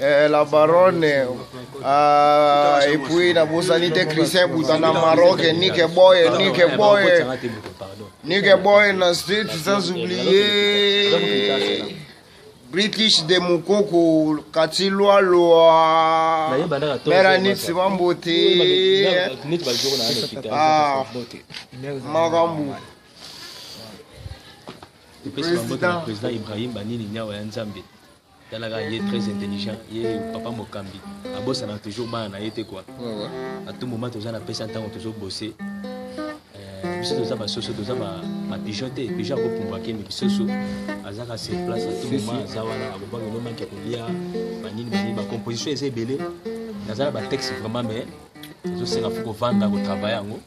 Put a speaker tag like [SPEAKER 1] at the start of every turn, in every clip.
[SPEAKER 1] Eh, la baronne ah, et puis na bosani te christian buta na maroc nike boye nike boye nike boye na state sans oublier british de mukoko kati lwalwa meranisi bambote ah, makambo
[SPEAKER 2] président ibrahim banini nyawa ya nzambe talaka ye très intelligent ye papa mokambi abosana toujours bana na ye te kua atu moma toza na pesa ntango tozobose euh, biso toza basoso toza bapigeon te pigeon akopumbwa kende bisoso azaka sur place atu moma aza wana akobaki nomanke kolia banini banini bacomposition eza ebele naza na batexte vraiment mais ezosenga fo kovanda kotravaille yango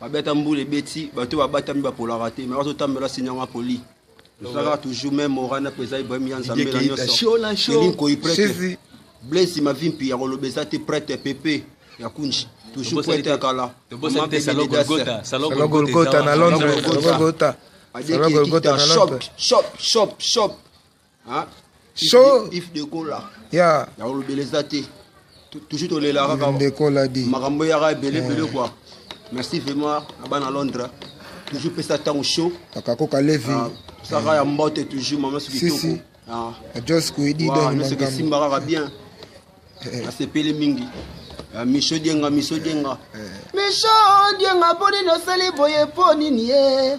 [SPEAKER 3] babi ata mbula ebeti bato oyo babatami bapolaka te me bazotambela sinyanga poli ezalaka toujours meme orana mpenza ibrahim ya nzambe na nyonsoelinkoi prete blaise mavi mpi ya koloba eza te prete pepe ya kunji toujours prete ya kala
[SPEAKER 4] golgota na londres golgota golgota na londres shop shop shop
[SPEAKER 3] ah, show
[SPEAKER 4] if de kola
[SPEAKER 3] ya ya olobela
[SPEAKER 4] eza te
[SPEAKER 3] toujours tolela kaka de kola di makambo
[SPEAKER 4] yaka ebele ebele
[SPEAKER 3] quoi merci vraiment na bana londres toujours pesa ntango show akakoka levi
[SPEAKER 4] ah, saka ya
[SPEAKER 3] mbote toujours mama soki toko ah.
[SPEAKER 4] ajos kuidi donsoki esimba kaka
[SPEAKER 3] bien eh. nasepeli mingi ah, miso dienga miso dienga eh. miso dienga mpo nini osali boye mpo nini ye eh?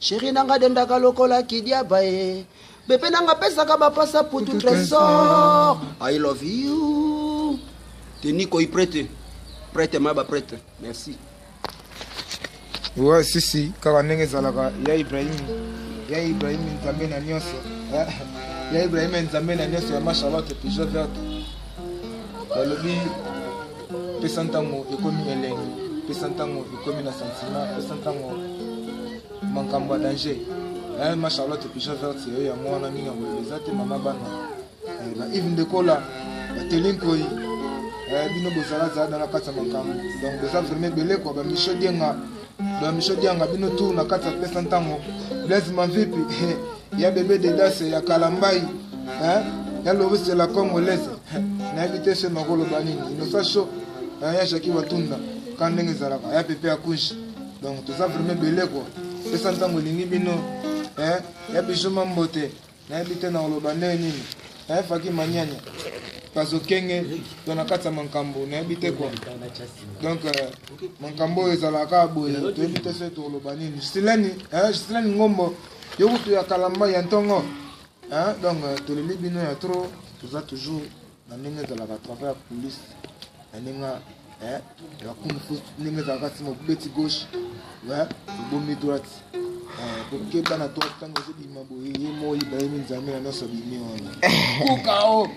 [SPEAKER 3] Chérie nanga dendaka lokola kidiaba ye Bebe nanga pesaka ba pasa putu trésor I love you Teni koi prête Prête ma ba prête Merci
[SPEAKER 4] Ouais sisi kaka ndenge ezalaka ya Ibrahim ya Ibrahim nzambe na nyonso eh, ya Ibrahim nzambe na nyonso ya ma Charlotte pigeon verte balobi pesa ntango ekomi elengi pesa ntango ekomi na sentiment pesa ntango makambo ya danger eh, ma charlotte pigeon verte yo yango wana mingi yango eza te mama bana eh, ba ive ndekola bateli nkoi eh, bino bozalazala na kati ya makambo donc boza vraimen ebele kua bamichel dienga Ba Michel Dianga bino tour na kati ya pesa ntango Blaise Mavipi ya bebe Dedas ya Kalambayi hein ya Loris de la Congolaise nayebi te se nakoloba nini inosa sho ya Jackie Watunda ka ndenge ezalaka ya pepe ya kushi donc toza vraiment ebele kua pesa ntango elingi bino ya bijuma mbote nayebi te nakoloba ndenge nini naye faki manyanya bazokenge to na kati ya makambo nayebi te kua donc euh, makambo oyo ezalaka kaka boye toyebi te soki tokoloba nini gisileni gisileni ngombo yo kutu ya kalamba ya ntongo donc euh, toleli bino ya trop toza toujours na ndenge ezalaka travail ya police na ndenge eh, ya kunfu ndenge ezalaka nsima obeti gauche obomi droite eh, kokeba na droite ntango ozobima boye ye moi bayemi nzambe na nyonso bimi wana kukao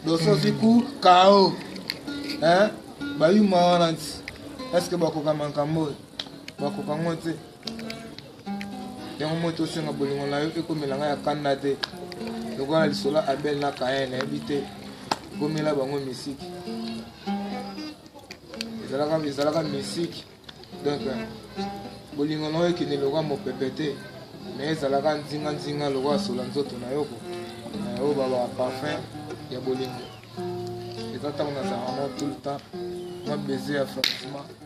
[SPEAKER 4] dososi kukao eh, bayuma wana nti eske bakoka makambo oyo bakoka ngo te yango moi tosenga bolingo na yo ekomela ngai ya kanda te lokola lisolo abel na kayen nayebi te ekomela bango misiki ezalaka ezalaka misiki donc bolingo na yo ekende lokola mopepe te me ezalaka nzinganzinga lokola sola nzoto na yo ko na yo babaka parfum ya bolingo eza ntango nazalaka na tout le temps mwa baiser ya francement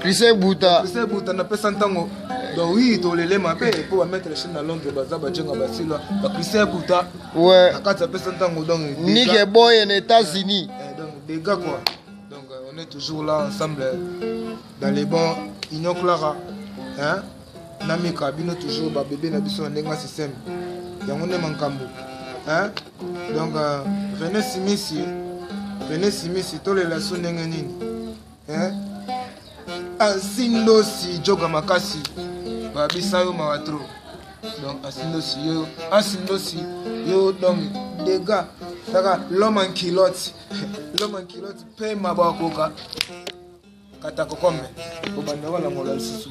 [SPEAKER 1] Christian Buta. Christian Buta na pesa ntango
[SPEAKER 4] donc oui tolele mabe mpo bamettre chine na londres baza bajenga basila bakristian buta ouais. na kati
[SPEAKER 1] apesa ntango
[SPEAKER 4] donc nike boye na
[SPEAKER 1] états-unis eh, donc dega quoi
[SPEAKER 4] donc euh, on est toujours là ensemble dans les bons union clara hein? na mika bino toujours babebe na biso na ndenge ya système yango nde makambo hein? donc euh, rené simisi rené simisi tolela so ndenge nini eh? asindosi joga makasi babisa yo mawa tro donc asindosi yo asindosi yo donc dega kaka l'homme en culotte l'homme en culotte mpe maba akoka kata kokome kobanda kolangola lisusu